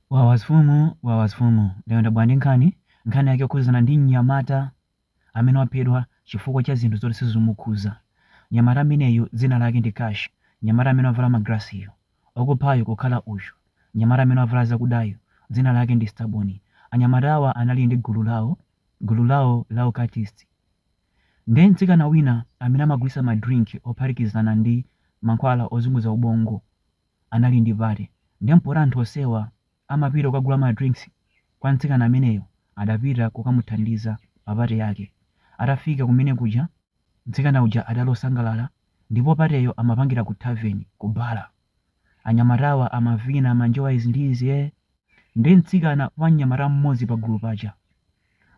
Wawas fumu wawa a fumu lero ndabwera ndi nkhani, nkhani yake yokhudzana ndi mnyamata amene waphedwa chifukwa cha zinthu zoti sizumukhuza. Mnyamata ameneyu dzina lake ndi Cash, mnyamata amene wavala ma glasses yu, okuphayu kukhala uyu, mnyamata amene wavala zakudayu dzina lake ndi Stubborn. Anyamatawa anali ndi gulu lawo, gulu lawo la ma cultist. Nde mtsikana wina amene amagulitsa ma drink ophatikizana ndi mankhwala ozunguza ubongo. anali ndi party nde poti anthu onsewa amapita kukagula ma drinks kwa mtsikana ameneyo adapita kukamuthandiza pa party yake. Atafika kumene kuja mtsikana uja adali osangalala ndipo party'yo amapangira ku tavern, ku bar. Anyamatawa amavina manjowa izi ndi izi eeh. Nde mtsikana wa mnyamata mmodzi pagulu paja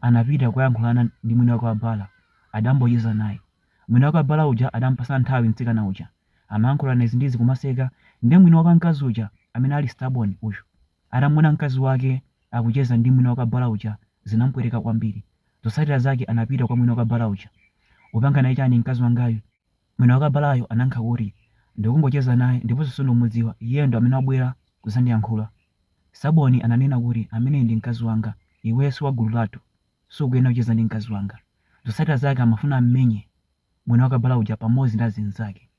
anapita kukayankhulana ndi mwini wake wa bar adambocheza naye. Mwini wake wa bar uja adampasa nthawi mtsikana uja. amayankhulana izi ndi izi kumaseka nde mwini wake mkazi uja amene ali Stubborn uyu atamuona mkazi wake akucheza ndi mwini wake bala uja zinamupweteka kwambiri zotsatira zake anapita kwa mwini wake bala uja ukupanga naye chani mkazi wangayu mwini wake balayo anayankha kuti ndikungocheza naye ndiponso sindikumudziwa iyeyo ndi amene wabwera kuzandiyankhula Stubborn ananena kuti ameneyu ndi mkazi wanga iweyo siwagulu lathu sukuyenera kucheza ndi mkazi wanga zotsatira zake amafuna ammenye mwini wake bala uja pamodzi ndi azinzake.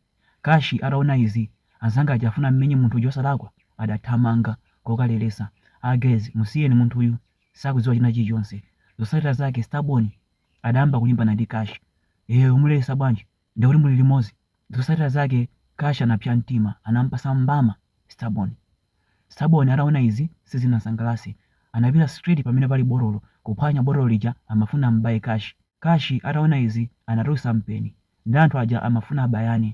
Cash ataona izi anzanga aja afuna ammenye munthu uja osalakwa adathamanga kokalelesa a guys musiyeni munthuyu sakudziwa china chilichonse. Zotsatila zake Stubborn adayamba kulimbana ndi Cash ee umulelesa bwanji ndekuti muli limodzi. Zotsatila zake Cash anapsya mtima anampasa mbama Stubborn. Stubborn ataona izi sizinamusangalase anapita straight pamene pali botolo kuphwanya botolo lija amafuna amubaye Cash. Cash ataona izi anatulusa mpeni nde anthu aja amafuna abayane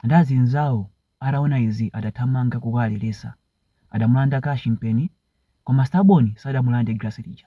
nde azinzawo ataona izi adathamanga kukawarelesa adamulanda Cash mpeni koma Stubborn sadamulande glass lija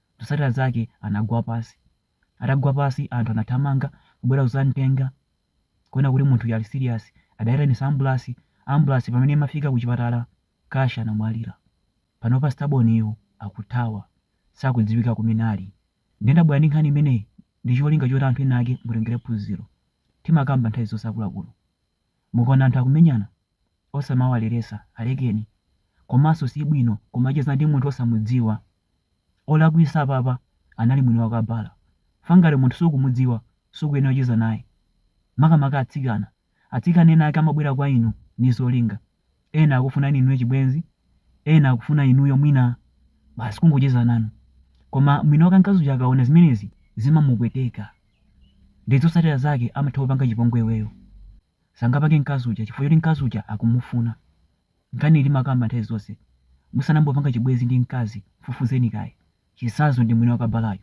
zotsatira zake anagwa pasi. Atagwa pasi anthu anathamanga kubwera kuzamtenga kuona kuti munthuyu ali serious, adayitanisa ambulasi, ambulasi pamene imafika kuchipatala Cash anamwalira. Panopa Stubborn yu akuthawa sakudziwika kumene ali. Nde ndabwera ndi nkhani imeneyi ndicholinga choti anthu enaake mutengere phunziro. Timakamba nthawi zonse akuluakulu mukaona anthu akumenyana osamawalelesa alekeni komanso sibwino kumacheza ndi munthu osamudziwa. olakwisa apapa anali mwini wake bala chifukwa ngati munthu sukumudziwa sukuyenera kucheza naye makamaka atsikana atsikana enaake amabwera kwa inu ndi zolinga ena akufunani inuyo chibwenzi ena akufuna inuyo mwina basi kungocheza nanu koma mwini wake mkazi uja akaona zimenezi zimamupweteka nde zotsatira zake amatha kupanga chipongwe iweyo sangapange mkazi uja chifukwa choti mkazi uja akumufuna Nkhani iyi timakamba nthawi zonse musanayambe kupanga chibwezi ndi mkazi mfufuzeni kaye. Chitsanzo ndi mwini wa kabalayu.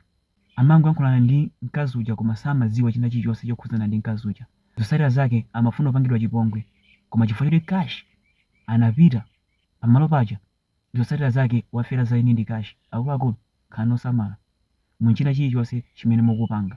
Amangoyankhulana ndi mkazi uja koma samadziwa china chilichonse chokhudzana ndi mkazi uja. Zotsatira zake amafuna kupangidwa chipongwe koma chifukwa choti cash anapita pamalo paja zotsatira zake wafera za eni ndi cash. Akuluakulu khalani osamala mu china chilichonse chimene mukupanga.